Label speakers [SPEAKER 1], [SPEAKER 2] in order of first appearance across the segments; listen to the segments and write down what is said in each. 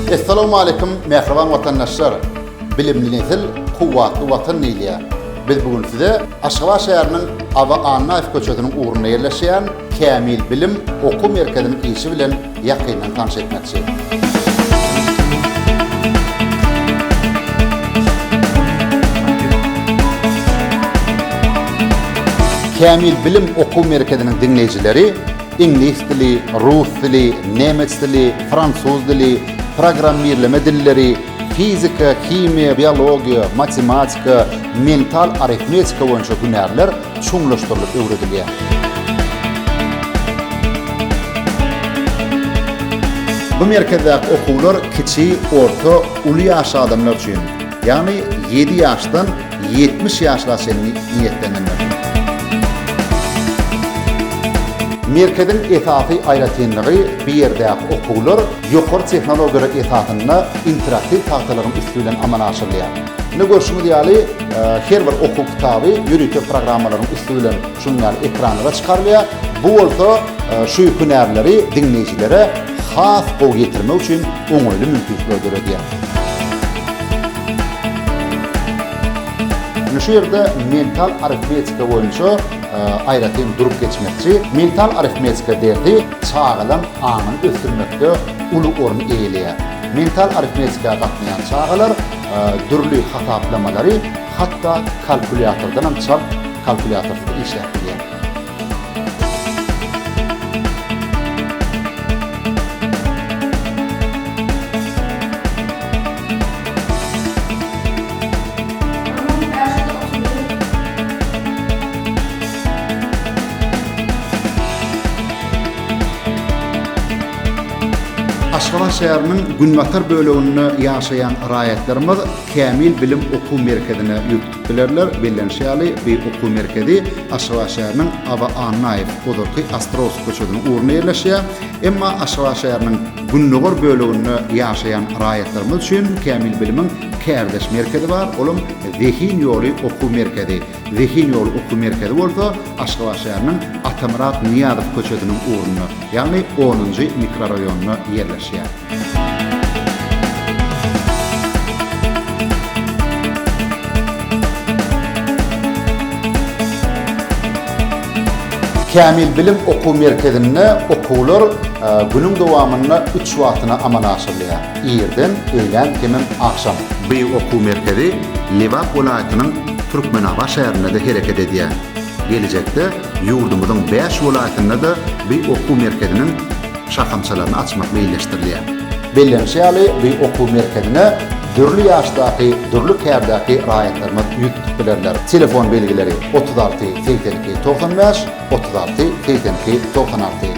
[SPEAKER 1] Essalawmaleýkum mähriban watandaşlar! Bilimli nesil, kuwwatly Watan diýilýär. Biz bu gün size Aşgabat şäheriniň Aba Annaýew köçesiniň ugrunda ýerleşýän Kämil bilim okuw merkeziniň işi bilen ýakyndan tanyş etmekçi. Kämil bilim okuw merkeziniň diňleýjileri iňlis dili, rus dili, nemes dili, fransuz dili, programmirleme dilleri, fizika, himiýa, biologiýa, matematika, mental arifmetika boýunça hünärler çuňlaşdyrylyp öwredilýär. Bu merkezdäki okuwlar kiçi, orta, uly ýaşly adamlar üçin, ýagny ýedi ýaşdan ýetmiş ýaşla çenli niýetlenendir. Merkeziň esasy aýratynlygy bu ýerdäki okuwlar ýokary tehnologiýalar esasynda interaktiw tagtalaryň üsti bilen amala aşyrylýar. Indi görşüňiz ýaly, her bir okuw kitaby ýörite programmalaryň üsti bilen şunuň ýaly ekranlara çykarylýar. Bu bolsa şu hünärleri diňleýjilere has gowy ýetirmek üçin oňaýly mümkinçilikleri döredýär. Şu ýerde mental arifmetika boýunça aýratyn durup geçmekçi. Mental arifmetika dersi çagalaryň aňyny ösdürmekde uly orun eýeleýär. Mental arifmetika gatnaýan çagalar dürli hasaplamalary hatda kalkulýatordanam çalt kalkulýatorsyz işläp bilýär. Aşgabat şäheriniň günbatar böleginde ýaşaýan raýatlarymyz Kämil bilim okuw merkezine ýüz tutup bilerler. Bellenişi ýaly, bu okuw merkezi Aşgabat şäheriniň Aba Annaýew, ozalky Ostrowsky köçesiniň ugrunda ýerleşýär. Emma Aşgabat şäheriniň gündogar böleginde ýaşaýan raýatlarymyz üçin Kämil bilimiň kärdeş merkezi bar, olam Zehin ýoly okuw merkezi. Zehin ýoly okuw merkezi bolsa Aşgabat şäheriniň Atamyrat Nyýazow köçesiniň ugrunda, ýagny onunjy mikroraýonynda ýerleşýär. Kämil bilim okuw merkezinde okuwlar günüň dowamynda üç wagtyna amala aşyrylýar, irden, öýlän hemem agşam. Bu okuw merkezi Lebap welaýatynyň Türkmenabat şäherinde-de hereket edýär. Geljekde ýurdumyzyň bäş welaýatynda-da bi okuw merkeziniň şahamçalaryny açmak meýilleşdirilýär. Bellenişi ýaly, bi okuw merkezine dürli ýaşdaky, dürli kärdäki raýatlarymyz ýüz tutup bilerler. Telefon belgileri, otuz alty, segsen iki, togsan bäş, otuz alty, segsen iki, togsan alty.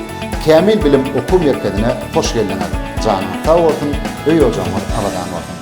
[SPEAKER 1] Kämil bilim okuw merkezine hoş geldiňiz! Janyňyz sag bolsun, öý-ojagyňyz abadan bolsun!